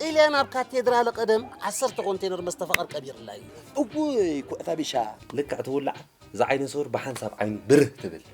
ጥልያን ኣብ ካቴድራለ ቀደም ዓሰርተ ኮንቴነር መስተ ፈቐር ቀቢርላ እዩ እውይ ኩዕታ ቢሻ ልክዕ ትውላዕ እዛ ዓይነ ሱር ብሓንሳብ ዓይኑ ብርህ ትብል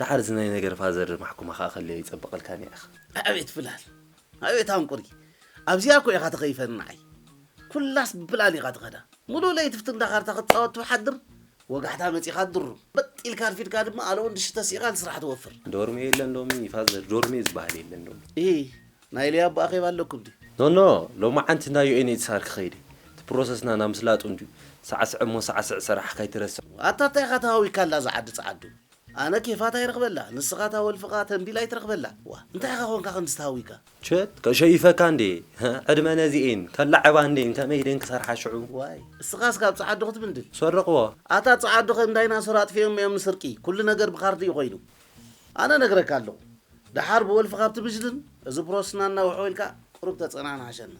ደሓር እዚ ናይ ነገር ፋዘር ማሕኩማ ከኣ ከለዮ ይጸብቀልካ ኒዕክ። ኣቤት ፍላል ኣቤት ኣንቁሪ ኣብዚኣ እኮ ኢካ ተከይፈኒ ንዓይ ኩላስ ብፍላል ኢካ ትከዳ ሙሉእ ለይቲ ብቲ እንዳ ካርታ ክትጻወት ትሓድር ወጋሕታ መጺካ ድሩም በጥ ኢልካ ኣርፊድካ ድማ ኣለ ወዲ ሽተ ሲኢካ ንስራሕ ትወፍር። ዶርሜ የለን ሎሚ ፋዘር ዶርሜ ዝባሃል የለን ሎሚ። ኢሂ ናይ ሊያቦ ኣኼባ ኣለኩም ድዩ። ኖኖ ሎማዓንቲ እንዳ UNHCR ክኸይድ እየ እቲ ፕሮሰስና ናምስላጡ እንድዩ ሳዕስዕ እሞ ሳዕስዕ ሰራሕካ ኣይትረስዕ። ኣታ ታይ ኢካ ተሃዊካ ኣላ እዛ ዓዲ ጸዓዱ። ኣነ ኬፋታ ይረኽበላ ንስኻ እታ ወልፍኻ ተምቢል ኣይትረኽበላ ዋእ እንታይ ኢኻ ኮንካ ከምዚ ተሃዊካ። ችድ ከሸይፈካ እንዴ ዕድመ ነዚኤን ከላዕባ እንዴን ከመይ ድየን ክሰርሓ ሽዑ። ዋይ እስኻስ ካብ ጸዓዱ ክትብንድል። ሰረቅዎ። ኣታ ጸዓዱ ከም ዳይናሶር ኣጥፊኦም እዮም ንስርቂ ኩሉ ነገር ብካርድ እዩ ኮይኑ ኣነ ነግረካ ኣለኩ ደሓር ብወልፍካ ኣብትብጅልን እዚ ፕሮስትና እናውሕውልካ ቁሩብ ተጸናናዓሸና።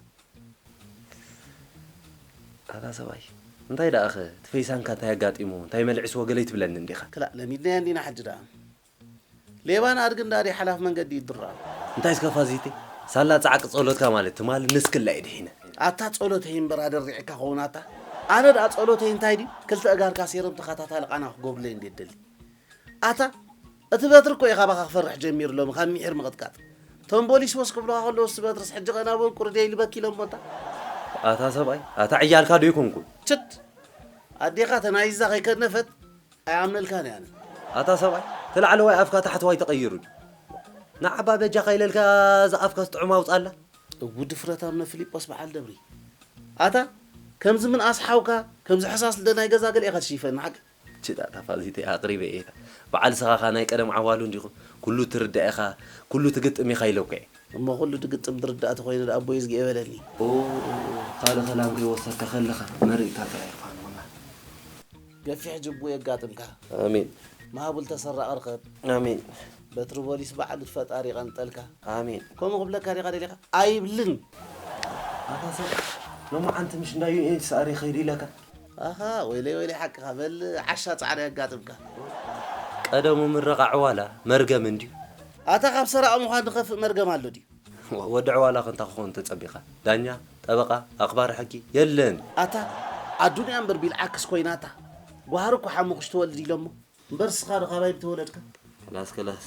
ኣታ ሰብኣይ እንታይ ደኣኸ እቲ ፈይሳንካ እንታይ ኣጋጢምዎ እንታይ መልዕስዎ ገለ ኣይትብለንን እንዲኻ። ክላእ ለሚድናያ እንዲና ሕጂ ደኣ ሌባን ኣድግን ደኣ ድዩ ሓላፊ መንገዲ ይድረር። እንታይ እስከ ፋዚተይ ሳላ ጻዕቂ ጸሎትካ ማለት ትማል ንስክላ ኢየ ድሒነ። ኣታ ጸሎተይ እምበር ኣደሪዕካ ኸውን ኣታ ኣነ ደኣ ጸሎተይ እንታይ ድዩ ክልተ እጋርካ ሴረም ተኸታታሊ ቃና ክገብርለይ እንድየ እደሊ ኣታ እቲ በትሪ እኮ እዩ ካባኻ ክፈርሕ ጀሚሩ ሎሚ ካብ ሚሒር ምቕጥቃጥ። እቶም ቦሊስ ወስ ክብሉኻ ከለዉ እስቲ በትርስ ሕጂ ከ ናበኡ ቁርደይ ኢሉ በኪ ኢሎሞ ኣታ። ኣታ ሰብኣይ ኣታ ዕያልካ ዶ ኣይኮንኩን። ችድ ኣዴኻ ተናይዛ ከይከነፈት ኣይኣምነልካን እየ ኣነ። ኣታ ሰብኣይ እቲ ላዕለዋይ ኣፍካ ታሕተዋይ ተቐይሩ ድዩ። ንዓ'ባ በጃኻ ኢለልካ እዛ ኣፍካስ ጥዑም ኣውጽኣላ። እው ድፍረት ኣብነ ፍሊጶስ በዓል ደብሪ። ኣታ ከምዚ ምንኣስ ሓውካ ከምዚ ሕሳስ ልደ ናይ ገዛ ገለ ኢኻ ትሽይፈኒ ሓቂ። ችጣ እታ ፋልሲተይ ኣቅሪበ እየ ኢካ በዓል እስኻ ከኣ ናይ ቀደም ዓዋሉ እንዲኹም ኩሉ ትርዳእ ኢኻ ኩሉ ትግጥም ኢኻ ኢለኩ እየ። እሞ ኩሉ ድግጥም ድርዳእ ተኮይኑ ደኣ ኣቦይ እዝግየ በለኒ። ኦኦኦኦ ካልእ ከላም ከይወሰድካ ከለካ መሪቅካ ጥራይ እኳ ንኩና። ገፊሕ ጅቡ የጋጥምካ። ኣሜን። መሃቡል ተሰራቒ ርኸብ። ኣሜን። በትሪ ቦሊስ በዓል ፈጣሪ ይቐንጠልካ። ኣሜን። ከምኡ ክብለካ ዲኻ ደሊኻ? ኣይብልን። ኣታ ሰብ ሎማዓንቲ ምሽ እንዳ UN ሰኣሪ ይኸይድ ኢለካ። ኣሃ ወይለይ ወይለይ ሓቅኻ በል ዓሻ ጻዕሪ የጋጥምካ። ቀደሙ ምረቓ ዕዋላ መርገም እንድዩ። ኣታ ካብ ሰራቒ ምዃን ዝኸፍእ መርገም ኣሎ ድዩ። ወዲ ዕዋላኸ እንታይ ክኸውን ተጸቢኻ ዳኛ፣ ጠበቓ፣ ኣኽባሪ ሕጊ የለን። ኣታ ኣዱንያ እምበር ቢልዓክስ ኮይናታ ጓሃር እኮ ሓሙኽሽቲ ወልድ ኢሎሞ። እምበር እስኻዶ ካባይ ምተወለድካ። ከላስ ከላስ።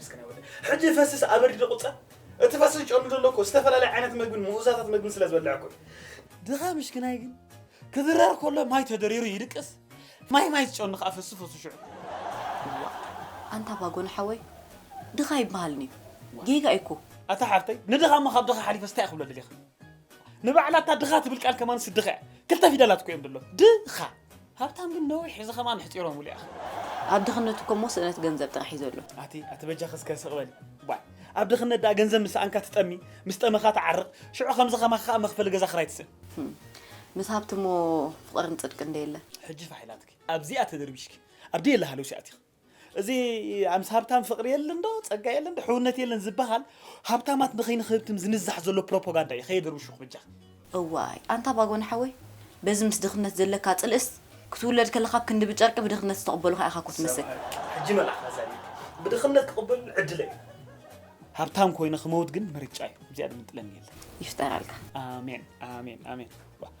እስከ ናይ ወደይ ሕጂ ፈስስ ኣበርዲ ዶ ቁጸ እቲ ፈስስ ጨኑ ዘሎ እኮ ዝተፈላለየ ዓይነት መግብን ምኡዛታት መግብን ስለ ዝበልዕ እኮ ድኻ ምሽክናይ ግን ክብረር ከሎ ማይ ተደሪሩ ይድቅስ ማይ ማይ ዝጨኑ ከዓ ፈሱ ፈሱ ሽዑ ኣንታ ባጎን ሓወይ ድኻ ይበሃልኒ ጌጋ እኮ ኣታ ሓፍተይ ንድኻ እሞ ካብ ድኻ ሓሊፈ ስታይ ክብሎ ደሊኻ ንባዕላ እታ ድኻ ትብል ቃል ከማን ስድኻ እያ ክልተ ፊደላት እኮ እዮም ድሎ ድኻ ሃብታም ግን ነዊሕ እዚ ከምኣ ምሕጺሮሙሉ ያኸ። ኣብ ድኽነቱ እኮ እሞ ስእነት ገንዘብ ጥራሕ እዩ ዘሎ። ኣቲ ኣቲ በጃኺ እስከ ስቕ በሊ ዋይ ኣብ ድኽነት ደኣ ገንዘብ ምስ ሰኣንካ ትጠሚ ምስ ጠመኻ ትዓርቕ ሽዑ ከምዚ ከማኺ ከኣ መኽፈሊ ገዛ ክራይ ትስእን። ምስ ሃብቲ እሞ ፍቕርን ጽድቅን ዶ የለን። ሕጂ ፋሕ ኢላትኪ ኣብዚኣ ተደርቢሽኪ ኣብ ደየለ ሃለውሲ ኣቲኺ። እዚ ምስ ሃብታም ፍቕሪ የለን ዶ ጸጋ የለን ዶ ሕውነት የለን ዝበሃል ሃብታማት ንኸይንክህብትም ዝንዛሕ ዘሎ ፕሮፖጋንዳ እዩ ከየድርብሹኽ በጃኻ። እዋይ ኣንታ ባጎኒ ሓወይ በዚ ምስ ድኽነት ዘለካ ጽልእስ ክትውለድ ከለኻ ብ ክንዲ ብጨርቂ ብድኽነት ዝተቀበሉኻ ኢኻ እኮ ትመስል። ሕጂ መልኣኽ ኣዛኒኒ ብድኽነት ክቅበሉኒ ዕድለይ እዩ። ሃብታም ኮይነ ክመውት ግን ምርጫይ እዩ እዚኣ ድምጥለኒ የለን። ይፍጠረልካ። ኣሜን ኣሜን ኣሜን።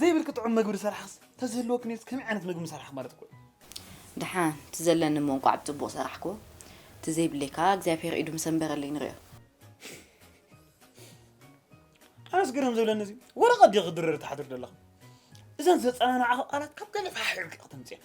ዘይብልኪ ጥዑም መግቢ ዝሰራሕክስ ተዝህልወኪ ነይሩስ ከመይ ዓይነት መግቢ ምሰራሕኪ ማለት እኮ እዩ። ደሓን እቲ ዘለኒ እሞ እንቋዕ ብጽቡቕ ሰራሕክዎ እቲ ዘይብለይ ከኣ እግዚኣብሄር ኢዱ ምሰንበረለይ ንርእዮ። ኣነስ ግርም ዝብለኒ እዚ ወረቐት ድዩ ክድርር ትሓድሪ ዘለኺ? እዘን ዘጸናንዓኺ ቃላት ካብ ገለ ተሓሒብኪ ከተምጽእየን።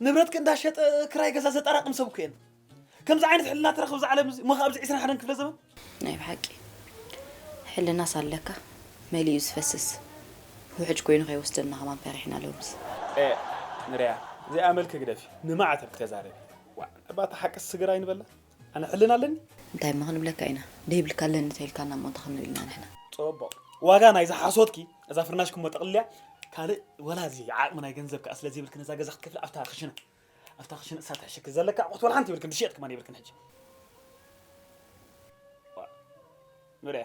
ንብረትኪ እንዳሸጠ ክራይ ገዛ ዘጠራቅም ሰብ እኮ የለን ከምዚ ዓይነት ሕልና ትረክብ እዛ ዓለም እዚ ሞኸ ኣብዚ 21 ክፍለ ዘመን ናይ ብሓቂ ሕልናስ ኣለካ መሊኡ ዝፈስስ ውሕጅ ኮይኑ ከይወስደና ከማን ፈሪሕና ሎምስ ኤእ ንርያ እዚኣ መልኪ ግደፊ ንማዕተብ ክተዛረቢ ዋእ እባ እታ ሓቅስ ስግር ኣይንበላ። ኣነ ሕልና ኣለኒ? እንታይ እሞ ክንብለካ ኢና ደይብልካ ኣለኒ ተይልካና እሞ እንታይ ክንብል ኢና ንሕና። ጽቡቕ ዋጋ ናይዛ ሓሶትኪ እዛ ፍርናሽኪ እሞ ጠቕልልያ ካልእ ወላ እዚ ዓቕሚ ናይ ገንዘብ ከኣ ስለ ዘይብልኪ ነዛ ገዛ ክትከፍሊ ኣብታ ክሽነ ኣብታ ክሽነ ንሳ ትሕሸኪ ዘለኪ ኣቑሑት ወላ ሓንቲ የብልክን ድሽየጥ ከማን የብልክን ሕጂ ንርኣ።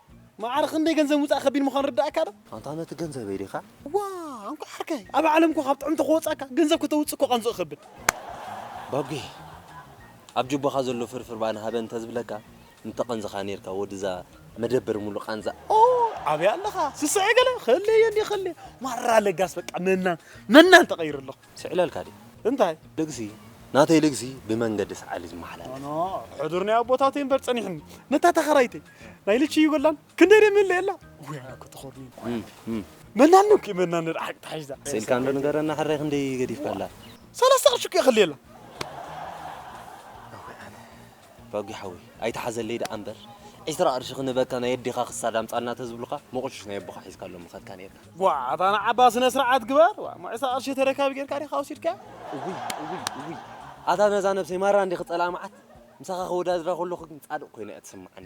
መዓር ክንደይ ገንዘብ ምውፃእ ከቢድ ምዃኑ ርዳእካ ዶ? ኣንታ ነቲ ገንዘበይ ዲኻ? ዋእ እንኳዕ ዓርከይ! ኣብ ዓለም እኮ ካብ ጥዑም ተከወፃካ ገንዘብ ከተውፅእ እኮ ቃንዝኡ ይከብድ። ባቢ ኣብ ጁባኻ ዘሎ ፍርፍር ባኒ ሃበኒ ተዝብለካ ምተቐንዝኻ ኔርካ ወዲ እዛ መደበር ሙሉእ ቓንዛ። ኦይ ኣበይ ኣለኻ ስስዐ ገለ ክህልየኒ ክህልየ ማራ ለጋስ በቃ መናን መናን ተቀይረ ኣለኹ። ስዕለልካ ድዩ? እንታይ? ልግሲ፣ ናተይ ልግሲ ብመንገዲ ሰዓል እዩ ዝመሓላለፍ። ኣነ ሕዱር ናይ ኣቦታተይ እምበር ጸኒሑኒ። ነታ ተኸራይተይ ናይ ልቺ ይጎላን ክንደይ ደይ ምለየላ። ወይ ኣነ እኮ ተኾርምየ እኮ እም፣ መናኑ እኮ መናኑ ደኣ ሓቂ ተሓሒዛ። ስኢልካ እንዶ ንገረና ሕራይ ክንደይ ገዲፍካላ? ሰለስተ ቅርሺ እኮ የኽልየላ። ፋጊ ሓወይ ኣይትሓዘለይ ደኣ እምበር ዕስራ ቅርሺ ክንህበካ ናይ ኣዴኻ ክሳድ ኣምጻልና ተዝብሉኻ ሞቕሽሽ ናይ ኣቦኻ ሒዝካሎም ምኸድካ ኔርካ። ጓዕ ኣታ ንዓባ ስነ ስርዓት ግበር ዋ እሞ ዕስራ ቅርሺ ተረካቢ ጌርካ ዲኻ ወሲድካያ። እውይ እውይ እውይ ኣታ ነዛ ነብሰይ ማራ እንዲኺ ጸላእ መዓት ምሳኻ ከወዳድራ ከለኹ ግን ጻድቕ ኮይና እያ ትስምዓኒ።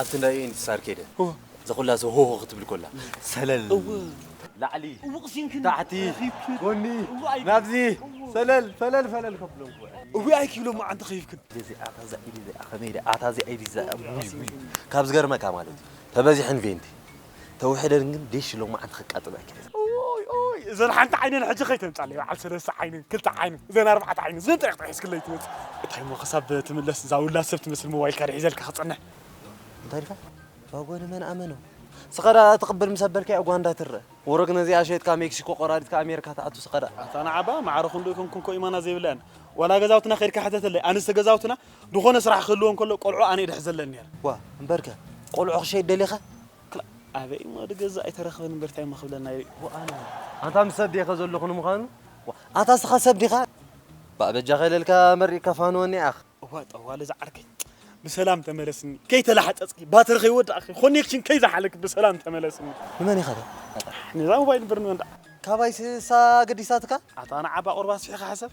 ኣብቲ ናይ ኢንትሳር ከይደ ዘኹላሰ ሆሆ ክትብል ኮላ ሰለል ላዕሊ ታሕቲ ጎኒ ናብዚ ሰለል ፈለል ፈለል ከብሎም ኮ እውይ ኣይኪ ኢሎም መዓንተ ከይፍክን እዚ ኣታ እዛ ኢድ እዚኣ ከመይ ድያ ኣታ እዚኣ ኢድ እዚኣ ውይ ውይ ካብ ዝገርመካ ማለት እዩ ተበዚሐን ቬንቲ ተውሕደን ግን ዲሽ ሎማዓንቲ ከቃጥሎ ኣይክእልን። ኦይ ኦይ እዘን ሓንቲ ዓይነን ሕጂ ከይተምጻለይ በዓል ሰለስተ ዓይነን ክልተ ዓይነን እዘን ኣርባዕተ ዓይነን እዘን ጥራሕ ጥራሕ ሒዝክለይ ትመጽእ እንታይ እሞ ክሳብ ትምለስ እዛ ውላድ ሰብ ትመስል ሞባይልካ ድየ ሒዘልካ ክጸንሕ እንታይ ኢልካ ባጎኒ መን ኣመኖ ስኸዳ ትቕብል ምስ ኣበልካያ ጓንዳ ትረ ወረግ ነዚኣ ሸይጥካ ሜክሲኮ ቆራሪጥካ ኣሜሪካ ትኣቱ ስኸዳ ኣታ ንዓባ ማዕረ ክንዶ ይኮንኩን ኮ ኢማና ዘይብላየን ዋላ ገዛውትና ከድካ ሕተተለይ ኣንስተ ገዛውትና ድኾነ ስራሕ ክህልዎ እንከሎ ቆልዑ ኣነ ይድሕዘለን ነይረ። ዋ እምበርከ ቆልዑ ክሸይድ ደሊኻ? ክላእ ኣበይ እሞ ድገዝእ ኣይተረኽበን እምበር ታይ እሞ ክብለና እዩ። ወኣነ ኣንታ ምስ ሰብ ዲኻ ዘለኹ ንምዃኑ? ኣታ እስኻ ሰብ ዲኻ? ባእ በጃኻ ኢለልካ መሪቕካ ፋንወኒ ዓኽ። እዋይ ጠዋሊ እዛ ዓርከይ ብሰላም ተመለስኒ ከይተላሕጸጽኪ ባትሪ ከይወዳእኪ ኮኔክሽን ከይዘሓለኪ ብሰላም ተመለስኒ። ንመን ኢኻ ትብል? ኣሕ ነዛ ሞባይል እምበር ንመን ደኣ። ካባይስ እሳ ኣገዲሳትካ? ኣታ ንዓ ባቆርባ ኣስፊሕካ ሕሰብ።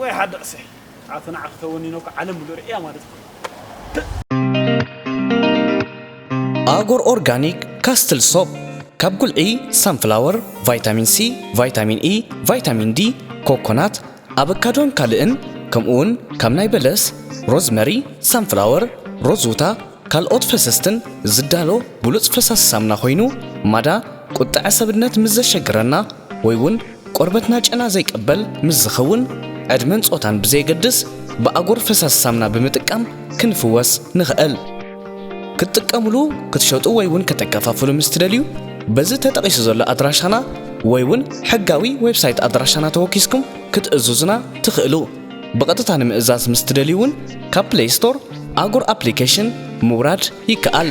ወይ ሓደ ቕስይ ኣቲ ንዓኺ ተወኒነ እኮ ዓለም ሙሉእ ርእያ ማለት እኮ እዩ። ኣጎር ኦርጋኒክ ካስትል ሶፕ ካብ ጉልዒ ሳንፍላወር፣ ቫይታሚን ሲ፣ ቫይታሚን ኢ፣ ቫይታሚን ዲ፣ ኮኮናት፣ ኣበካዶን ካልእን ከምኡውን ካብ ናይ በለስ፣ ሮዝመሪ፣ ሳንፍላወር፣ ሮዝውታ ካልኦት ፈሰስትን ዝዳሎ ብሉጽ ፈሳሲ ሳምና ኮይኑ ማዳ ቁጠዐ ሰብነት ምስ ዘሸግረና ወይ ውን ቆርበትና ጨና ዘይቀበል ምስ ዝኸውን ዕድመን ጾታን ብዘየገድስ ብኣጎር ፈሳሲ ሳምና ብምጥቃም ክንፍወስ ንኸእል። ክትጥቀምሉ፣ ክትሸጡ ወይ ውን ከተከፋፍሉ ምስ ትደልዩ በዚ ተጠቂሱ ዘሎ ኣድራሻና ወይ ውን ሕጋዊ ዌብሳይት ኣድራሻና ተወኪስኩም ክትእዙዙና ትኽእሉ። ብቐጥታ ንምእዛዝ ምስ ትደልዩ ውን ካብ ፕለይ ስቶር ኣጎር ኣፕሊኬሽን ምውራድ ይከኣል።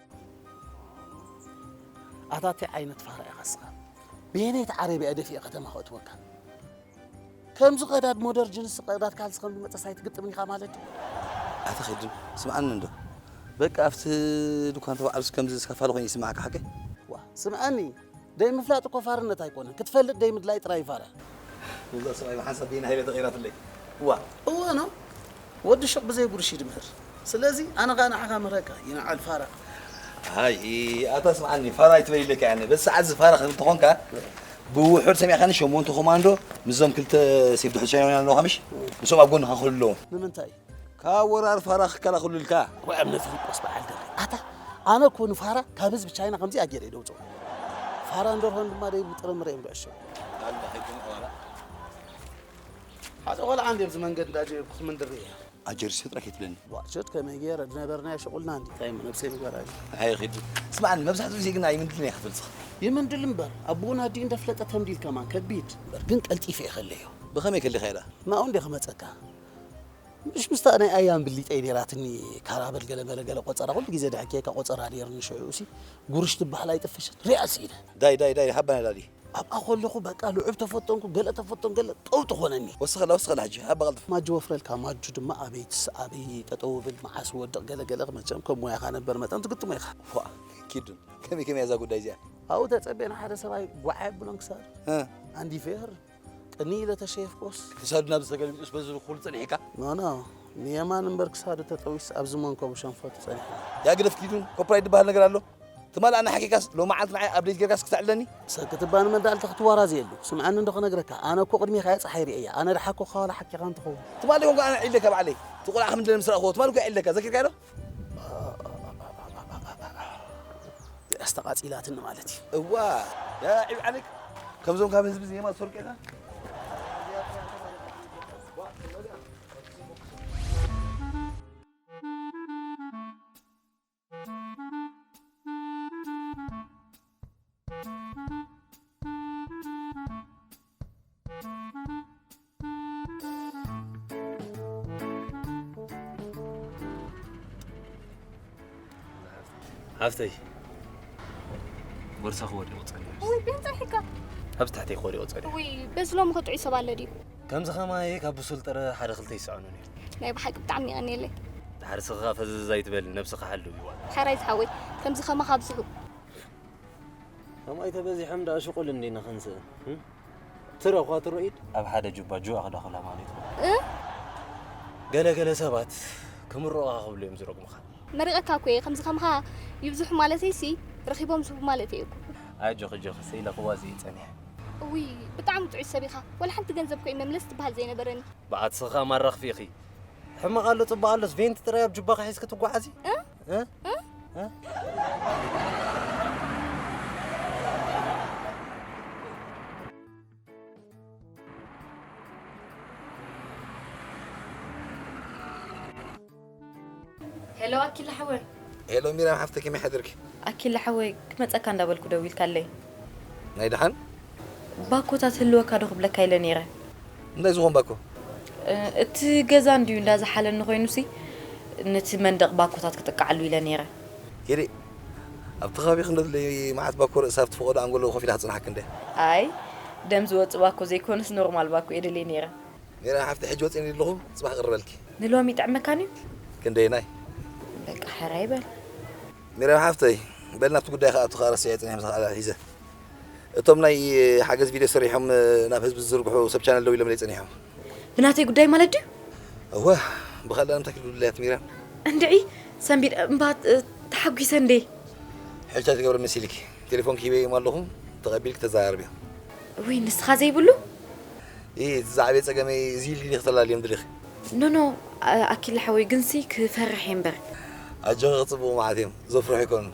ኣታ ታይ ዓይነት ፋራ ኢኻ እስኻ በየነይቲ ዓረብ እያ ደፊኤ ከተማ ከእትወካ ከምዚ ቀዳድ ሞደር ጅንስ ቀዳድ ካልሲ ከም ዝመፀስ ኣይትግጥምን ኢኻ ማለት እዩ ኣታ ኸድም ስምዓኒ እንዶ በቃ ኣብቲ ድኳን ተባዕሉስ ከምዚ ዝኸፋሉ ኮይኑ ይስምዓካ ሓቂ ዋ ስምዓኒ ደይምፍላጥ እኮ ፋርነት ኣይኮነን ክትፈልጥ ደይምድላይ ጥራይ እዩ ፋራ። እዛ ሰብኣይ ብሓንሳብ ብይና ኢለ ተቐይራትለይ እዋ። እወ ን ወዲ ሹቕ ብዘይ ጉርሽ እዩ ድምህር ስለዚ ኣነ ከኣ ንዓኻ ምህረካ ይንዓል ፋራ። ኣይ ኣታ ስምዓኒ ፋራ ኣይትበል ኢለካ እየ ኣነ በዚ ሰዓት እዚ ፋራ እንተኾንካ ብውሑድ ሰሚዕካኒ ሸሞንተ ኮማንዶ ምስዞም ክልተ ሴፍ ድሕሪ ቻይናውያን ኣለዉኻ ምሽ ንሶም ኣብ ጎንኻ ክህሉ ኣለዎም። ንምንታይ ካብ ወራር ፋራ ክከላኸሉልካ ዋይ እምነ ፊሊጶስ በዓል ደርቢ ኣታ ኣነ እኮ ንፋራ ካብ ህዝቢ ቻይና ከምዚኣ ገይረ እየ ደውፅኦ ፋራ እንደርሆን ድማ ደይብሉ ጥረምረ እዮም ብዕሾ ኣላ ሕጂ ቆላ ሓደ ቆልዓ እንዲ ኣብዚ መንገድ እንዳጀ ክምንድር እየ ኣጀርሲ ጥራሕ ይትብለኒ ዋቸት ከመይ ገይረ ዝነበርናዮ ሽቁልና እንዲ እንታይ ነብሰይ ንገራ ኣየ ኺዱ ስማዕኒ መብዛሕትኡ ግዜ ግን ኣይምንድልን እየ ክትብል ትኽእል ይምንድል እምበር ኣቦኡን ኣዲኡ እንዳፍለጠ ተምዲል ከማን ከቢድ እምበር ግን ቀልጢፈ እየ ከለዮ ብኸመይ ከሊኻ ኢላ ናኡ እንዲ ክመፀካ ምሽ ምስታ ናይ ኣያም ብሊጠይ ነይራትኒ ካራበል ገለ መለ ገለ ቆፀራ ኩሉ ግዜ ድሕኬካ ቆፀራ ነይርኒ ሽዑኡሲ ጉርሽ ትበሃል ኣይጥፈሸት ሪኣ ስኢነ ዳይ ዳይ ዳይ ሃባና ላሊ ኣብኣ ከለኹ በቃ ልዑብ ተፈተንኩ ገለ ተፈተን ገለ ጠው ትኾነኒ ወስኸላ ወስኸላ ሕጂ ሃባ ቀልጥፍ ማጁ ወፍረልካ ማጁ ድማ ኣበይ ትስ ኣበይ ጠጠው ብል መዓስ ወድቕ ገለ ገለ መቸም ከም ሞያኻ ነበር መጠን ትግጥሞ ኢኻ ፎእ ኪዱ ከመይ ከመይ እያ እዛ ጉዳይ እዚኣ ኣብኡ ተፀቤ ንሓደ ሰብኣይ ጓዓ የብሎን ክሳዱ ኣንዲፌ ይህርም ቅንይ ኢለ ተሸየፍኮስ ክሳዱ ናብ ዝተገልቢጡስ በዚ ኩሉ ጸኒሕካ ኖኖ ንየማን እምበር ክሳዱ ተጠዊስ ኣብዚ መንከቡ ሸንፈቱ ጸኒሕና ያ ግደፍ ኪዱን ኮፕራይት ዝበሃል ነገር ኣሎ ትማል ኣነ ሓኪካስ ሎሚ ዓንት ንዓይ ኣብደይት ጌርካስ ክተዕለኒ ሰኪ ትባኒ መዳልታ ክትዋራዘየሉ ስምዓኒ እንዶ ክነግረካ ኣነ እኮ ቅድሜካ እየ ፀሓይ ርእየያ ኣነ ደሓኩካ ዋላ ሓኪካ እንትኸውን ትማሊ ኮንካ ኣነ ዒለካ ባዕለይ እቲ ቆልዓ ከም ድለ ምስ ረኣኹዎ ትማሊ እኮ ዒለካ ዘኪርካዮ ዶ እዚኣስ ተቓጺላትኒ ማለት እዩ። እዋ ዳኣ ዒብ ዓለይካ ከምዞም ካብ ህዝቢ ዜማ ዝሰርቁ ኢኻ ሃፍተይ ቦርሳኺ ወዲቑ ፀኒሑ ውይ ብምንታይ ሕካ ኣብዚ ታሕተይ ክወዲቑ ፀኒሑ ውይ በዚ ሎሚ ከጥዑይ ሰብ ኣለ ድዩ ከምዚ ከማየ ካብ ብሱል ጥረ ሓደ ክልተ ይሰዕኑ ነይሩ ናይ ብሓቂ ብጣዕሚ ይቐኒየለይ ድሓር ስኽኻ ፈዘዝ ኣይትበል ነብስኻ ሓሉ ይዋ ሓራይ ዝሓወይ ከምዚ ከማኻ ኣብዝሑ ከምኣይ ተበዚሖም ደኣ ሽቁል እንዲና ክንስእን ትረ እኳ ትሮ ኢድ ኣብ ሓደ ጁባ ጁዋ ክደኽላ ማለት እዩ ገለገለ ሰባት ክምርቑኻ ክብሉ እዮም ዝረግሙኻ መሪቐካ እኮ እየ ከምዚ ከምኻ ይብዝሑ ማለተይ ሲ ረኺቦም ዝህቡ ማለት እየ እኮ ኣጆኺ ጆኺ ስኢለኽዋ እዚ እዩ ፀኒሐ እውይ ብጣዕሚ ጥዑይ ሰብ ኢኻ ወላ ሓንቲ ገንዘብ ኮይ መምለስ ትበሃል ዘይነበረኒ በዓት ስኻ ማራኽፊ ኢኺ ሕማቕ ኣሎ ፅቡቕ ኣሎስ ቬንቲ ጥራይ ኣብ ጁባኺ ሒዝኪ ትጓዓዚ ሄሎ ኣኪለ ሓወይ ሄሎ ሚራም ሓፍተ ከመይ ሓድርኪ ኣኪለ ሓወይ ክመፀካ እንዳበልኩ ደዊልካለይ ናይ ደሓን ባኮታት ህልወካ ዶ ክብለካ ኢለ ነይረ እንታይ ዝኹን ባኮ? እቲ ገዛ እንድዩ እንዳ ዝሓለኒ ኮይኑሲ ነቲ መንደቕ ባኮታት ክጥቅዓሉ ኢለ ነይረ። ሂሪ፣ ኣብቲ ከባቢ ክንደትለይ መዓት ባኮ ርእሲ ኣብቲ ፈቐዶ ኣንጎሎ ኮፍ ኢላ ክጽንሓኪ እንድያ። ኣይ ደም ዝወጽእ ባኮ ዘይኮነስ ኖርማል ባኮ እየ ደልየ ነይረ። ሜሮን ሓፍተይ ሕጂ ወጺኒ ኣለኹ ጽባሕ ክቕርበልኪ። ንሎሚ ይጥዕመካ እንድዩ። ክንደየናይ? በቃ ሕራይ በል። ሜሮን ሓፍተይ በል ናብቲ ጉዳይ ክኣቱ ከኣ ረሲዐዮ ጸኒሐ ምሳኻ ኣተሓሒዘ። እቶም ናይ ሓገዝ ቪድዮ ሰሪሖም ናብ ህዝቢ ዝዝርግሑ ሰብ ቻነል ደው ኢሎምለይ ጸኒሖም። ብናተይ ጉዳይ ማለት ድዩ? እወ ብካልእ ንምንታይ ክድውልለይ ኣትሚረን። እንድዒ ሰንቢድ እምባ ተሓጒሰ እንዴ። ሕጂ ታይ ትገብሪ መሲልኪ ቴሌፎንኪ ሂበዮም ኣለኹ ተቐቢልኪ ተዘራረብዮ። ውይ ንስኻ ዘይብሉ። ኢሂ እቲ ዝዓበየ ጸገመይ እዚ ኢልኪ ዲኺ ክተላልዮም ደሊኺ። ኖኖ ኣኪለ ሓወይ ግንሲ ክፈርሕ እየ እምበር። ኣጆኺ ክጽብቑ መዓት እዮም ዘፍርሑ ኣይኮኑን።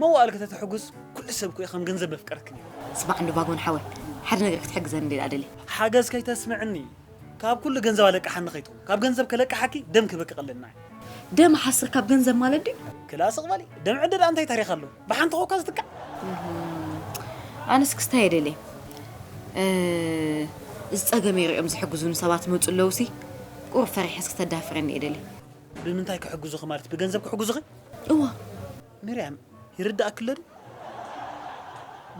መዋእል ከተተሕጉስ ኩሉ ሰብ እኮ ከም ገንዘብ መፍቀርክን እዩ። ስማዕ እንዶ ቫጎን ሓወይ ሓደ ነገር ክትሕግዘኒ እንዲኣ ደልየ። ሓገዝ ከይተስምዕኒ ካብ ኩሉ ገንዘብ ኣለቅሓኒ ከይትኩን ካብ ገንዘብ ከለቅሓኪ ደም ክበኪ ቀለልና እዩ። ደም ሓስር ካብ ገንዘብ ማለት ድዩ? ክላ ስቅ በሊ ደም ዕደ ድኣ እንታይ ታሪክ ኣለዎ ብሓንቲ ኮካ ዝትካእ። ኣነ ስክስታ እየ ደልየ እዚ ጸገመይ ሪኦም ዝሕግዙኒ ሰባት ይመጹ ኣለዉ ሲ ቁሩብ ፈሪሐስ ክተዳፍረኒ እየ ደልየ። ብምንታይ ክሕግዙኺ ማለት ብገንዘብ ክሕግዙኺ? እወ። ሚርያም፣ ይርድኣኪ ኣሎ ድዩ?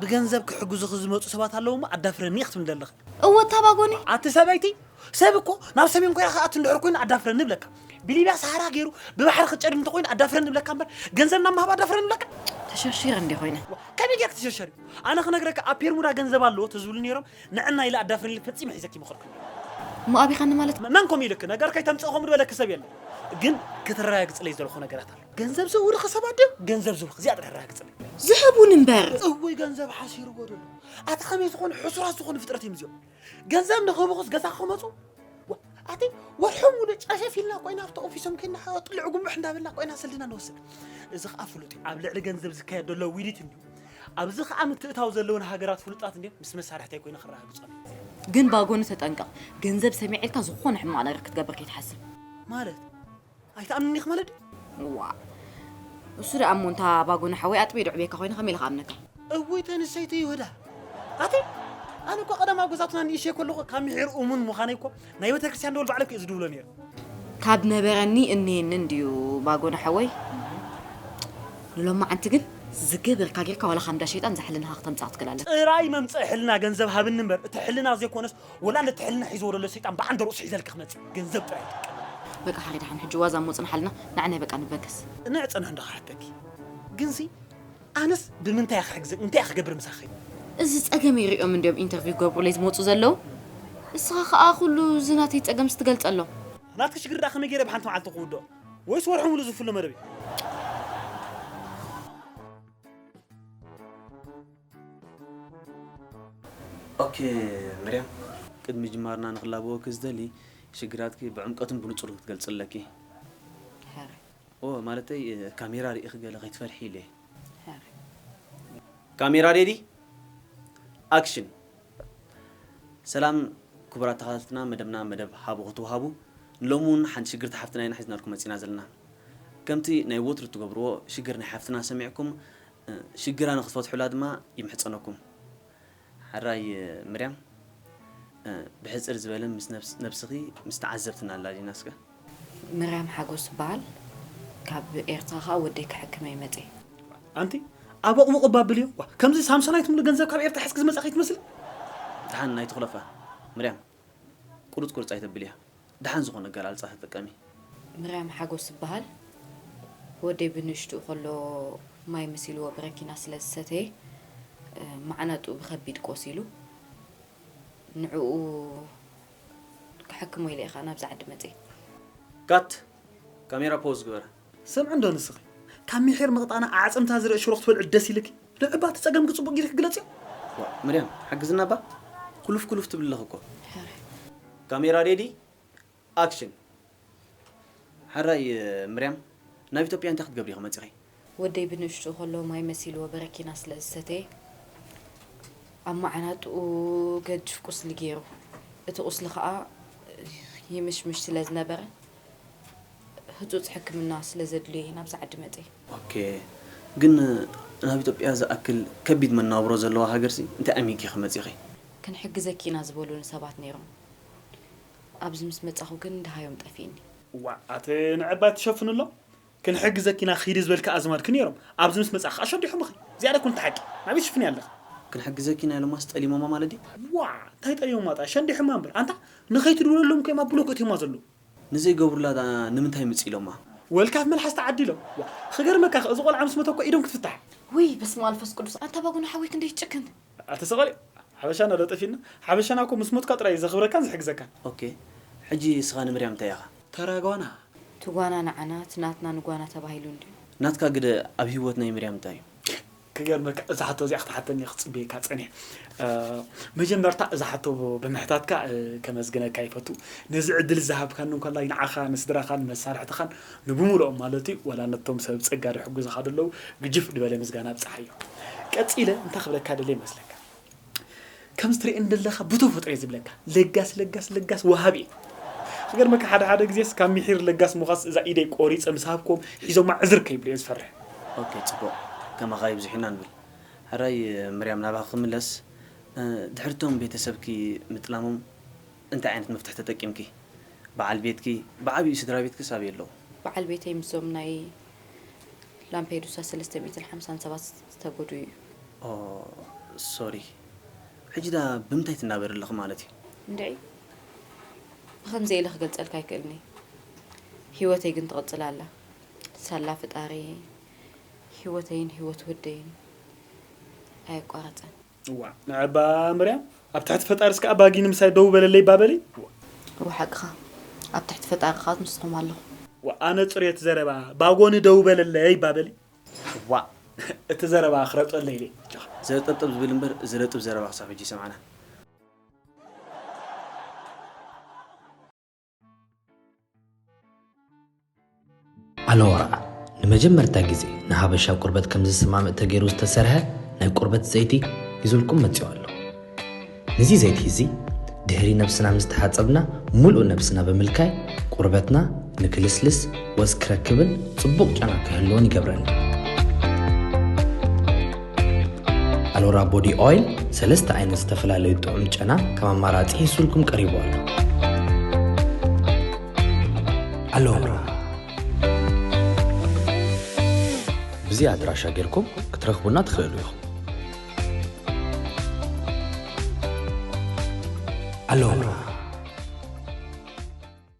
ብገንዘብ ክሕግዙኺ ዝመጹ ሰባት ኣለዉ እሞ ኣዳፍረኒ ክትብሊ ደለኺ። እወ እታ ባጎኒ። ኣቲ ሰበይቲ፣ ሰብ እኮ ናብ ሰሜን ኮርያ ክኣቱ እንድሕር ኮይኑ ኣዳፍረኒ እብለካ። ብሊብያ ሰሃራ ገይሩ ብባሕሪ ክትጨድም እንተኾይኑ ኣዳፍረኒ እብለካ እምበር ገንዘብ ናብ ምሃብ ኣዳፍረኒ እብለካ? ተሸርሺረ እንድየ ኮይነ። ከመይ ገይርኪ ትሸርሸሪ? ኣነ ክነግረኪ ኣብ ፔርሙዳ ገንዘብ ኣለዎ ተዝብሉ ነይሮም ንዕና ኢለ ኣዳፍረኒ ኢለ ፈጺመ ሒዘኪ ይመኸርኩ ነይረ። እሞ ኣቢኻኒ ማለት እዩ። መን ከምኡ ኢሉኪ? ነገር ከይተምጽኢ ከምኡ ድበለኪ ሰብ የለን። ግን ክትረጋግጽለይ ዝደለኹ ነገራት ኣሎ። ገንዘብ ዘውርኽ ሰባት ድዮም ገንዘብ ዝውርኽ እዚኣ ጥራሕ ኣረጋግፅለይ ዝህቡን እምበር እወይ ገንዘብ ሓሲርዎ ደሎ ኣቲ ከመይ ዝኾኑ ሕሱራት ዝኾኑ ፍጥረት እዮም እዚኦም ገንዘብ ንኽብኹስ ገዛ ክመፁ ዋ- ኣቲ ወርሑ ሙሉ ጨሸፍ ኢልና ኮይና ኣብቲ ኦፊሶም ከይና ጥልዕ ጉምሕ እንዳበልና ኮይና ስልድና ንወስድ እዚ ከዓ ፍሉጥ እዩ ኣብ ልዕሊ ገንዘብ ዝካየድ ዘሎ ውዲት እንዲዩ ኣብዚ ከዓ ምትእታው ዘለውን ሃገራት ፍሉጣት እንዲዮም ምስ መሳርሕተይ ኮይነ ክረጋግፆ ግን ባጎኒ ተጠንቀቕ ገንዘብ ሰሚዐልካ ዝኾነ ሕማቕ ነገር ክትገብር ከይትሓስብ ማለት ኣይትኣምንኒ ኢኺ ማለት ድዩ? እዋእ እሱ ደኣ እሞ እንታ ባጎና ሓወይ ኣጥብየ ዶ ዕብየካ ኮይነ ከመይ ኢለ ክኣምነካ? እውይ እታ ንሰይቲ ይሁዳ ኣቲ ኣነ እኮ ቀደም ኣብ ገዛውትና ንእሽተይ ከለኹ ካብ ምሒር እሙን ምዃነይ እኮ ናይ ቤተክርስትያን ደወል ባዕለይ እኮ እየ ዝድውሎ ነይረ። ካብ ነበረኒ እንየኒ እንድዩ ባጎና ሓወይ ንሎማዓንቲ ግን ዝገበርካ ጌርካ ዋላ ካብ እንዳ ሸይጣን እዛ ሕልናኻ ክተምጽኣ ክትክእል ኣለካ። ጥራይ መምጽኢ ሕልና ገንዘብ ሃብኒ እምበር እቲ ሕልና ዘይኮነስ ወላ ነቲ ሕልና ሒዝዎ ደሎ ሰይጣን ብዓንደ ርእሱ ሒዘልኪ ክመጽእ ገንዘብ ጥራይ ይጥቀመሉ። በቃ ሓላይ ደሓን ሕጂ ዋዛ እሞ ጽንሓልና ንዓናይ በቃ ንበገስ። ቅንዕ ጽንሕ እንዶ ክሓተኪ ግንሲ ኣነስ ብምንታይ እየ ክሕግዘኪ እንታይ እየ ክገብር ምሳኺ። እዚ ጸገመይ ሪኦም እንድዮም ኢንተርቪው ክገብሩለይ ዝመጹ ዘለዉ እስኻ ከኣ ኩሉ እዚ ናተይ ጸገምስ ትገልጸሎም። ናትኪ ሽግር ደኣ ከመይ ጌረ ብሓንቲ መዓልቲ ክውድኦ ወይስ ወርሒ ሙሉእ ዝፍሎ መደብ እዩ። ኦኬ ምርያም ቅድሚ ምጅማርና ንክላበወኪ ዝደሊ ሽግራትኪ ብዕምቀቱን ብንጹርን ክትገልጽለኪ ሀረ ኦ ማለተይ ካሜራ ርኢኺ ገለ ከይትፈርሒ ኢለ ሀረ ካሜራ ሬዲ ኣክሽን ሰላም ክቡራት ተኸታተልትና መደብና መደብ ሃቡ ክትወሃቡ ንሎሚ እውን ሓንቲ ሽግርቲ ሓፍትና ኢና ሒዝናልኩም መፂና ዘለና ከምቲ ናይ ወትሩ እትገብርዎ ሽግር ናይ ሓፍትና ሰሚዕኩም ሽግራ ንክትፈትሑላ ድማ ይምሕጸነኩም ሐራይ ምርያም ብሕጽር ዝበለ ምስ ነብስኪ ምስ ተዓዘብትና ኣላልይና እስከ። ምርያም ሓጎስ ትበሃል ካብ ኤርትራ ከኣ ወደይ ክሕክም እየ መጽየ። ኣንቲ ኣቦቕቡቕ እባ ኣብልዮ ዋእ ከምዚ ሳምሶናይት ሙሉ ገንዘብ ካብ ኤርትራ ሒዝኪ ዝመጻኺ ትመስሊ። ድሓን ኣይትኹለፋ ምርያም። ቁርጽ ቁርጽ ኣይተብልያ ደሓን ዝኾነ ኣገላልጻ ተጠቀሚ። ምርያም ሓጎስ እብሃል ወደይ ብንእሽትኡ ከሎ ማይ መሲልዎ ብረኪና ስለ ዝሰተየ ማዓናጥኡ ብከቢድ ቆሲሉ ንዕኡ ክሕክሞ ኢለ እየ ከኣ ናብዚ ዓዲ መጽየ። ካት ካሜራ ፖዝ ግበራ። ስምዒ እንዶ ንስኺ ካብ ሚሒር ምቕጣና ኣዕጽምታ ዝርእ ሽሮ ክትበልዒ ደስ ኢልኪ ንዕባ እቲ ጸገምኪ ጽቡቕ ጊርኪ ግለጽዮ። ዋእ ምርያም ሓግዝና እባ ኩሉፍ ኩሉፍ ትብሊ ኣለኺ እኮ። ሕራይ። ካሜራ ሬዲ ኣክሽን ሕራይ ምርያም ናብ ኢትዮጵያ እንታይ ክትገብሪ ኢኺ መጺኺ? ወደይ ብንእሽትኡ ከሎ ማይ መሲልዎ በረኪና ስለ ዝሰተየ ኣብ መዓናጥኡ ገድፍ ቁስሊ ገይሩ እቲ ቁስሊ ከኣ ይምሽምሽ ስለ ዝነበረ ህፁፅ ሕክምና ስለዘድልዮ እየ ናብዚ ዓዲ መፅየ። ኦኬ ግን ናብ ኢትዮጵያ ዝኣክል ከቢድ መናብሮ ዘለዋ ሃገርሲ እንታይ ኣሚጊኺ መፂኺ? ክንሕግዘኪ ኢና ዝበሉኒ ሰባት ነይሮም ኣብዚ ምስ መፃኹ ግን ደሃዮም ጠፊእኒ። እዋእ ኣቲ ንዕባይ ትሸፍንሎም ክንሕግዘኪ ኢና ኺዲ ዝበልኪ ኣዝማድኪ ኔሮም ኣብዚ ምስ መጻኺ ከኣ ሸዲሖምኺ ዝያዳ ኩኒ ትሓቂ ናበይ ትሽፍንያ ኣለኺ። ክንሕግዘኪ ኢና ኢሎማስ ጠሊሞማ ማለት ድዩ። ዋእ እንታይ ጠሊሞማ ጥራይ ሸንዲሖማ እምበር ኣንታ ንኸይትድውለሎም ከይማ ብሎክ እትዮማ ዘለዉ። ንዘይገብሩላ ድኣ ንምንታይ ምጽ ኢሎማ። ወልካፍ መልሓስ ተዓዲሎም ዋእ። ኽገርመካ እኽ እዚ ቆልዓ ምስ መተ እኮ ኢዶም ክትፍታሕ። ውይ በስመኣልፍስቅዱስ ኣታ ባጉና ሓወይ ክንደይ ትጭክን። ኣቲ ሰቃይ ሓበሻና ዶ ጠፊእና ሓበሻና እኮ ምስ ሞትካ ጥራይ እዩ ዘክብረካን ዝሕግዘካን። ኦኬ ሕጂ ንስኻ ንምርያም እንታይ ኢኻ? ተራ ጓና። እቲ ጓና ንዓና እቲ ናትና ንጓና ተባሂሉ እንድዩ። ናትካ ግደ ኣብ ሂወት ናይ ምርያም እንታይ እዩ? ክገርመካ እዛ ሕቶ እዚኣ ክትሓተኒ ክጽበየካ ጸኒሐ መጀመርታ እዛ ሕቶ ብምሕታትካ ከመስግነካ ይፈቱ ነዚ ዕድል እዚ ሃብካኒ እንኮላይ ንዓኻ ንስድራኻን መሳርሕትኻን ንብሙሉኦም ማለት እዩ ዋላ ነቶም ሰብ ጸጋ ድሕጉዙ ካዶ ኣለው ግጅፍ ድበለ ምስጋና ኣብጽሓዮ ቀጺለ እንታይ ክብለካ ደልየ መስለካ ከምዚ ትርእየኒ ደለካ ብተፈጥሮ እየ ዝብለካ ለጋስ ለጋስ ለጋስ ወሃቢ እየ ክገርመካ ሓደ ሓደ ግዜስ ካብ ምሒር ለጋስ ምዃስ እዛ ኢደይ ቆሪጸ ምስ ሃብክዎም ሒዞማ ዕዝር ከይብሉ እየ ዝፈርሕ። ኦኬ ጽቡቅ ከማኻ ይብዝሑ ኢና ንብል። ሕራይ ምርያም ናባኺ ክምለስ ድሕሪ እቶም ቤተሰብኪ ምጥላሞም፣ እንታይ ዓይነት መፍትሒ ተጠቂምኪ? በዓል ቤትኪ፣ ብዓቢኡ ስድራቤትክስ ኣበይ ኣለዉ? በዓል ቤተይ ምስዞም ናይ ላምፔዱሳ ሰለስተ ሚእትን ሓምሳን ሰባት ዝተጎድኡ እዩ። ኦህ ሶሪ ሕጂ ድኣ ብምንታይ ትናበሪ ኣለኺ ማለት እዩ? እንድዒ ብኸምዚ ኢለ ክገልጸልካ ኣይክእልን እየ ሂወተይ ግን ትቕጽል ኣላ ሳላ ፍጣሪየይ ሂወተይን ሂወት ወደይን ኣየቋረጸን። እዋእ ናይ ኣባ ምርያም ኣብ ትሕቲ ፈጣሪ እስከ ኣባጊ ንምሳይ ደው በለለይ እባ በሊ። እወ ሓቅኻ ኣብ ትሕቲ ፈጣሪ ከኣ ምስኹም ኣለኹ። እወ ኣነ ጽርየት ዘረባ ባጎኒ ደው በለለይ እባ በሊ። እዋእ እቲ ዘረባ ክረጠለይ ኢለ ጀኻ። ዘጠብጥብ ዝብል እምበር ዝረጥብ ዘረባ ክሳብ ሕጂ ኣይሰማዕናን። ኣለዋር ንመጀመርታ ግዜ ንሃበሻ ቁርበት ከም ዝሰማምእ ተገይሩ ዝተሰርሐ ናይ ቁርበት ዘይቲ ይዙልኩም መፂኡ ኣሎ እዚ ዘይቲ እዚ ድህሪ ነብስና ምስ ተሓፀብና ሙሉእ ነብስና ብምልካይ ቁርበትና ንክልስልስ ወዝ ክረክብን ፅቡቕ ጨና ክህልዎን ይገብረልና ኣሎራ ቦዲ ኦይል ሰለስተ ዓይነት ዝተፈላለዩ ጥዑም ጨና ከም ኣማራፂ ሂሱልኩም ቀሪቡ ኣሎ ኣሎራ ብዚ ኣድራሻ ጌርኩም ክትረኽቡና ትኽእሉ ኢኹም ኣሎራ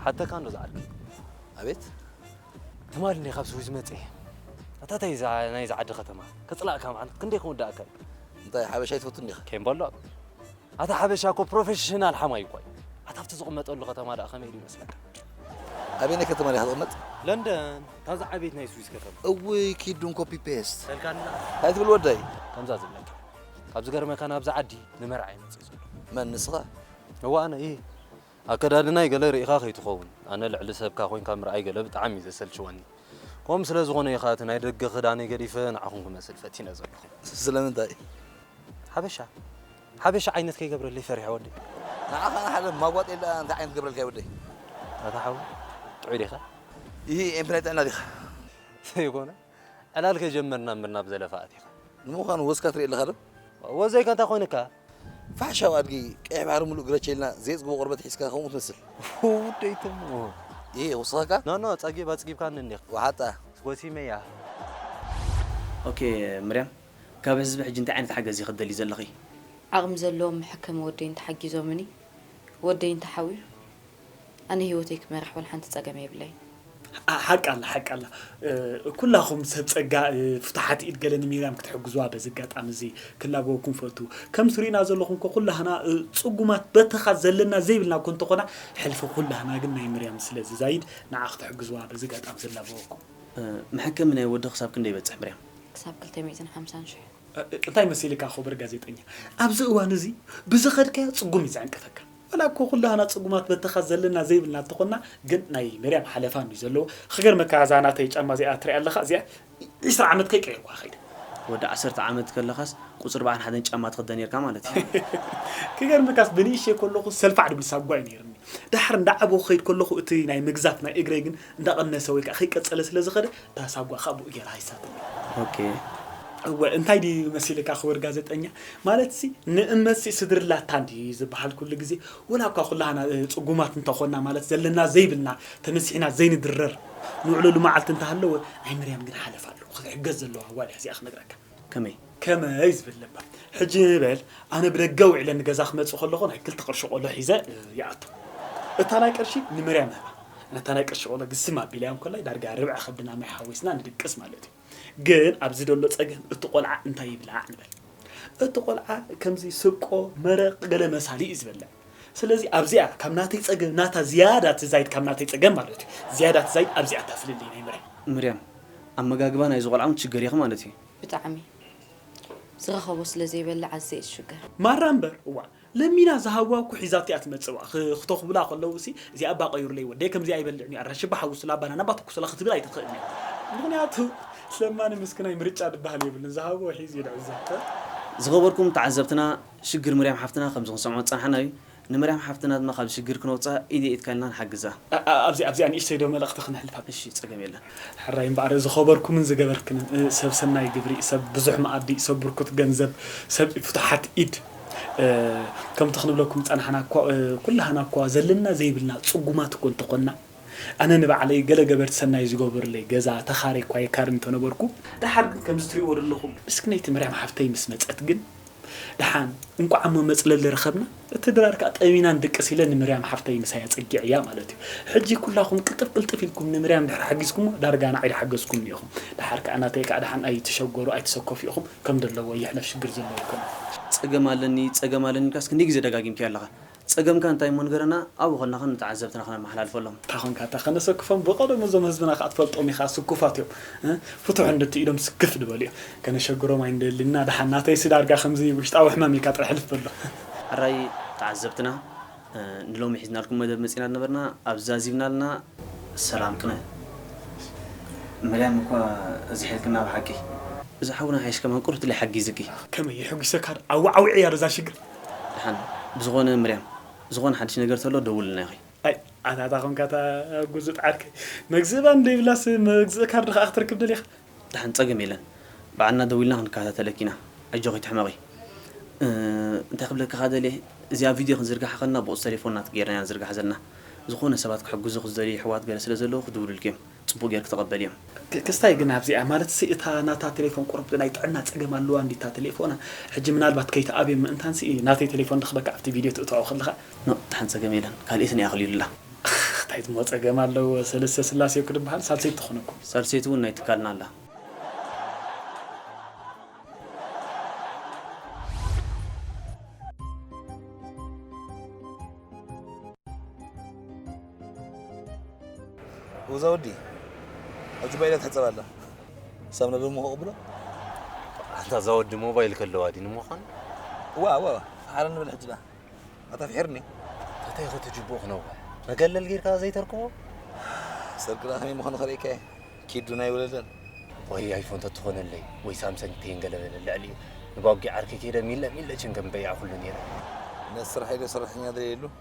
ክሓተካ እንዶ ዝዓርከይ ኣቤት ትማል እንዲየ ካብ ስዊዝ መጼ ኣታተይ እዛ ናይዚ ዓዲ ከተማ ከጽላእካ መዓልት ክንደይ ክውዳእካ እዩ እንታይ ሓበሻ ኣይትፈቱን ዲኻ ኬምቦሎ ኣታ ሓበሻ እኮ ፕሮፌሽናል ሓማዩ እኳ እዩ። ኣታ ኣብቲ ዝቕመጠሉ ከተማ ደኣ ከመይ ኢሉ ይመስለካ? ኣበየናይ ከተማ ዲኻ ትቕመጥ? ለንደን ካብዛ ዓበይቲ ናይ ስዊስ ከተማ። እውይ ኪድ ዱን ኮፒ ፔስት በልካኒ ደኣ። እንታይ ትብል ወደይ? ከምዛ ዝብለካ ካብ ዝገርመካ ናብዛ ዓዲ ንመርዓ እዩ መጺኡ ዘሎ። መን ንስኻ? እወ ኣነ እየ። ኣከዳድናይ ገለ ሪኢኻ ከይትኸውን ኣነ ልዕሊ ሰብካ ኮይንካ ምርኣይ ገለ ብጣዕሚ እዩ ዘሰልችወኒ ከምኡ ስለ ዝኾነ እዩ ከኣ እቲ ናይ ደገ ክዳነይ ገዲፈ ንዓኹም ክመስል ፈቲነ ዘለኹ። ስለምንታይ? ሓበሻ ሓበሻ ዓይነት ከይገብረለይ ፈሪሐ ወደይ። ንዓኻ ንሓደ ማጓጥየል ደኣ እንታይ ዓይነት ክገብረልካ እዩ ወደይ? ኣታ ሓወይ ጥዑይ ዲኻ? ኢሂ ኤምፕላይ ጥዕና ዲኻ? ዘይኮነ ዕላል ከይጀመርና እምበር ናብ ዘለፋ ኣቲኻ። ንምዃኑ ወዝካ ትሪኢ ኣለኻ ዶ? ወዘይካ እንታይ ኮይንካ? ፋሕሻው ኣድጊ ቀይሕ ባሕሪ ምሉእ ግረቸ ኢልና ዘየጽግቦ ቆርበት ሒዝካ ከምኡ ትመስል። ውደይ ትሙ። ኢሂ ይውስኸካ? ኖ ኖ ጸጊብ ኣጽጊብካኒ እንዲኻ። ወሓጣ። ጎሲመያ። ኦኬ ምርያም ካብ ህዝቢ ሕጂ እንታይ ዓይነት ሓገዝ ኢኺ ትደልዪ ዘለኺ? ዓቕሚ ዘለዎም መሐከሚ ወደይ እንተሓጊዞምኒ ወደይ እንተሓውዩ ኣነ ሂወተይ ክመርሕ ወላ ሓንቲ ጸገም የብለይ። ሓቂ ኣላ ሓቂ ኣላ ኩላኹም ሰብ ጸጋ ፍቱሓት ኢድ ገለ ንሚርያም ክትሕግዙዋ በዚ ኣጋጣሚ እዚ ክላበወኩም ፈቱ ከም ትሪኡና ዘለኹም እኮ ኩላህና ጽጉማት በተኻ ዘለና ዘይብልና እኮ እንተኾና ሕልፊ ኩላህና ግን ናይ ምርያም ስለ ዝዛይድ ንዓ ክትሕግዙዋ በዚ ኣጋጣሚ እዚ እላበወኩም። መሐከሚ ናይ ወዲ ክሳብ ክንደይ ይበጽሕ ምርያም? ክሳብ ክልተ ሚእትን ሓምሳን ሽሕ። እንታይ መሲልካ ኹብር ጋዜጠኛ ኣብዚ እዋን እዚ ብዝኸድካዮ ጽጉም እዩ ዝዕንቀፈካ። ዋላ እኮ ኩላህና ጽጉማት በተኻ ዘለና ዘይብልና እንተኾንና ግን ናይ መርያም ሓለፋ እንድዩ ዘለዎ ኽገርመካ እዛ ናተይ ጫማ እዚኣ ትሪኣ ኣለኻ እዚኣ ዕስራ ዓመት ከይቀየርኩዋ ከይደ። ወዲ ዓሰርተ ዓመት ከለኻስ ቁጽሪ በዓል ሓደን ጫማ ትኽደን ኔርካ ማለት እዩ። ክገርመካስ ብንእሽተይ ከለኹ ሰልፋዕ ድብል ሳጓ እዩ ኔርኒ። ደሓር እንዳዓበኹ ክኸይድ ከለኹ እቲ ናይ ምግዛፍ ናይ እግረይ ግን እንዳቐነሰ ወይ ከኣ ከይቀጸለ ስለ ዝኸደ እታ ሳጓ ከኣ ብኡ ጌራ ሃይሳትኒ። ኦኬ። እወ እንታይ ድዩ መሲልካ ክቡር ጋዘጠኛ ማለትሲ ንእመትሲ ስድርላታ እንድዩ ዝብሃል ኩሉ ግዜ ወላ እኳ ኩላህና ጽጉማት እንተ ኾንና ማለት ዘለና ዘይብልና ተነሲሕና ዘይንድረር ንውዕለሉ መዓልቲ እንተ ሃለወ ናይ ምርያም ግን ሓለፋ ኣለዎ ክትሕገዝ ዘለዋ ጓል እያ እዚኣ ክነግረካ ከመይ? ከመይ ዝብል ለባም። ሕጂ በል ኣነ ብደገ ውዒለ ንገዛ ክመጽእ ከለኹ ናይ ክልተ ቅርሺ ቆሎ ሒዘ ይኣቱ። እታ ናይ ቅርሺ ንመርያም እህባ። ነታ ናይ ቅርሺ ቆሎ ግስም ኣቢለያ እንከላይ ዳርጋ ርብዒ ከብድና ማይ ሓዊስና ንድቅስ ማለት እዩ። ግን ኣብዚ ደሎ ጸገም እቲ ቆልዓ እንታይ ይብላዕ ንበል። እቲ ቆልዓ ከምዚ ስብቆ፣ መረቕ፣ ገለ መሳሊ እዩ ዝበልዕ። ስለዚ ኣብዚኣ ካብ ናተይ ጸገም ናታ ዝያዳ ትዛይድ ካብ ናተይ ጸገም ማለት እዩ ዝያዳ ትዛይድ ኣብዚኣ እታ ፍልልይ ናይ ምርያ። ምርያም ኣመጋግባ ናይዚ ቆልዓ ውን ችግር ኢኺ ማለት እዩ። ብጣዕሚ ዝረኸቦ ስለ ዘይበልዕ ኣዝየ እየ ዝሽገር። ማራ እምበር እዋ ለሚና ዝሃብዋ እኮ ሒዛቶ እያ ትመጽእ እባ ክተኹብላ ከለዉ ሲ እዚኣ እባ ቀይሩለይ ወደይ ከምዚኣ ኣይበልዕን እዩ ኣራንሺ እባ ሓውሱላ ባናና እባ ትኩሱላ ክትብል ኣይትኽእልን እያ ምኽንያቱ ለማኒ ምስክናይ ምርጫ ድበሃል የብሉን ዝሃብዎ ሒዙ እዩ ልዕዘብ። ዝኸበርኩም ተዓዘብትና ሽግር ምርያም ሓፍትና ከምዚ ክንሰምዖ ዝጸናሕና እዩ ንምርያም ሓፍትና ድማ ካብዚ ሽግር ክነውጽኣ ኢደይ ኢድካ ኢልና ንሓግዛ። ኣብዚ ኣብዚኣ ንእሽተይ ዶ መልእኽቲ ክነሕልፍ ኣብ። እሺ ጸገም የለን። ሕራይ እምበኣር ዝኸበርኩምን ዝገበርክንን ሰብ ሰናይ ግብሪ ሰብ ብዙሕ መኣዲ ሰብ ብርኩት ገንዘብ ሰብ ፍቱሓት ኢድ ከምቲ ክንብለኩም ዝጸናሕና እኮ ኩላህና እኳ ዘለና ዘይብልና ጽጉማት እኮ እንተኾንና ኣነ ንባዕለይ ገለ ገበርቲ ሰናይ ዝገበሩለይ ገዛ ተኻርየ እኳ የካርይ እንተነበርኩ ደሓር ግን ከምዚ ትርእይዎ ዘለኹም ምስክነይቲ ምርያም ሓፍተይ ምስ መጸት ግን ደሓን እንቋዕ እሞ መጽለሊ ረኸብና እቲ ድራር ከኣ ጠሚና ንድቅስ ኢለ ንምርያም ሓፍተይ ምሳይ ኣጸጊዐያ ማለት እዩ ሕጂ ኩላኹም ቅልጥፍ ቅልጥፍ ኢልኩም ንምርያም ድሕሪ ሓጊዝኩሞ ዳርጋ ንዓይ ድሓገዝኩምኒ ኢኹም ደሓር ከኣ ናተይ ከኣ ደሓን ኣይትሸገሩ ኣይትሰከፉ ኢኹም ከም ደለዎ ይሕለፍ ሽግር ዘለውኩም ጸገም ኣለኒ ጸገም ኣለኒ ኢልካስ ክንደይ ግዜ ደጋጊምካዮ ኣለኻ ጸገምካ እንታይ እሞ ንገረና ኣብኡ ከለኻ ንተዓዘብትና ክነመሓላልፈሎም። እንታይ ኮንካ እታ ከነሰክፎም ብቀደሙ እዞም ህዝብና ካኣ ትፈልጦም ኢካ ስኩፋት እዮም ፍትሑ እንድቲ ኢሎም ስክፍ ድበሉ እዮም ከነሸግሮም ኣይንደልን ኢና ዳሓን ናተይሲ ዳርጋ ከምዚ ውሽጣዊ ሕማም ኢልካ ጥራሕ ሕልፍ በሎ። ሕራይ ተዓዘብትና ንሎሚ ሒዝናልኩም መደብ መጺና ድነበርና ኣብ ዛዚምናልና። ሰላም ቅነ መርያም እኳ ዝሒልክና ብሓቂ። እዛ ሓውና ሓይሽ ከማን ቁሩብ ትለይ ሓጊዝኪ። ከመይ የሕጒሰካ ዶ ኣዋዓዊዐያ ዶ እዛ ሽግር። ድሓን ብዝኮነ ምርያም ዝኮነ ሓድሽ ነገር ተሎ ደውልልና ኢኪ። ኣይ ኣታ ኣታ ኮንካ እታ ጉዙጥ ዓርከይ መግዝኢ ባኒ ደይብላስ መግዝኢ ካርድ ክኣ ክትረክብ ደሊካ። ድሓን ጸገም የለን ባዕልና ደዊልና ክንከታተለኪ ኢና ኣጆኪ ኣይትሕመቂ እንታይ ክብለኪ ከኣ ደልየ እዚኣ ቪድዮ ክንዝርግሓ ከለና ብቁጽሪ ተሌፎን ናትኪ ጌርና ኢና ንዝርግሓ ዘለና ዝኮነ ሰባት ክሕግዙኪ ዝደልዩ የሕዋት ገለ ስለ ዘለዉ ክድውሉልኪ እዮም ጽቡቅ ጌርኪ ተቀበልዮ። ክስታይ ግን ኣብዚኣ ማለትሲ እታ ናታ ቴሌፎን ቁሩብ ናይ ጥዕና ጸገም ኣለዋ እንድዩ እታ ቴሌፎና ሕጂ ምናልባት ከይትኣብዮም ምእንታንሲ ናተይ ቴሌፎን ረክበካ ኣብቲ ቪድዮ ትእትዖ ከለካ። ኖእ ደሓን ጸገም የለን ካልኤት እኒኣ ክልዩልላ። ታይትሞ ጸገም ኣለዎ ሰለስተ ስላሴ እኮ ድበሃል ሳልሰይቲ ትኾነኩም። ሳልሰይቲ ውን ናይ ትካልና ኣላ። እዛ ወዲ ኣብዚ ባይላ ትሕፀብ ኣላ ሳብ ነዶ እሞ ክቕብሎ ኣንታ እዛ ወዲ ሞባይል ከለዋ ዲ ንምዃኑ እዋ እዋ ሓረ ንብል ሕጂ ዳ ኣታ ፍሒርኒ እንታይ ኸ ትጅብኡ ክነውሕ መገለል ጌርካ ዘይተርክቦ ሰርቂ ዳ ከመይ ምዃኑ ከርእካ እየ ኪዱ ናይ ወለደን ወይ ኣይፎን ተትኾነለይ ወይ ሳምሰንግ ተይንገለበለ ልዕሊኡ ንባጊ ዓርኪ ከይደ ሚለ ሚለ ችንገም በይዓ ኩሉ ነይረ ነስራሕ ኢለ ሰራሕተኛ ደልየሉ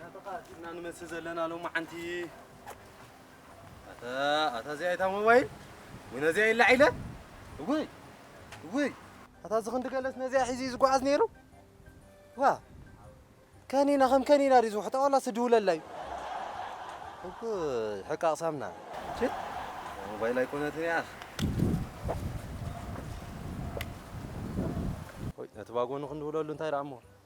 ናትኻ ንመስል ዘለና ሎማዓንቲ ኣታ እዚኣ እታ ሞባይል ወይ ነዚኣ ኢላ ዒለ እውይ እውይ ኣታ እዚ ክንዲ ገለስ ነዚኣ ሒዙ እዩ ዝጓዓዝ ነይሩ ዋ ከኒና ከም ከኒና ድዩ ዝውሕጣ ዋላ ስድውለላ እዩ እውይ ሕቃቕ ሳምና ቺ ሞባይል ኣይኮነትን እያ ወይ ነቲ ባጎኑ ክንድውለሉ እንታይ ደኣ እሞ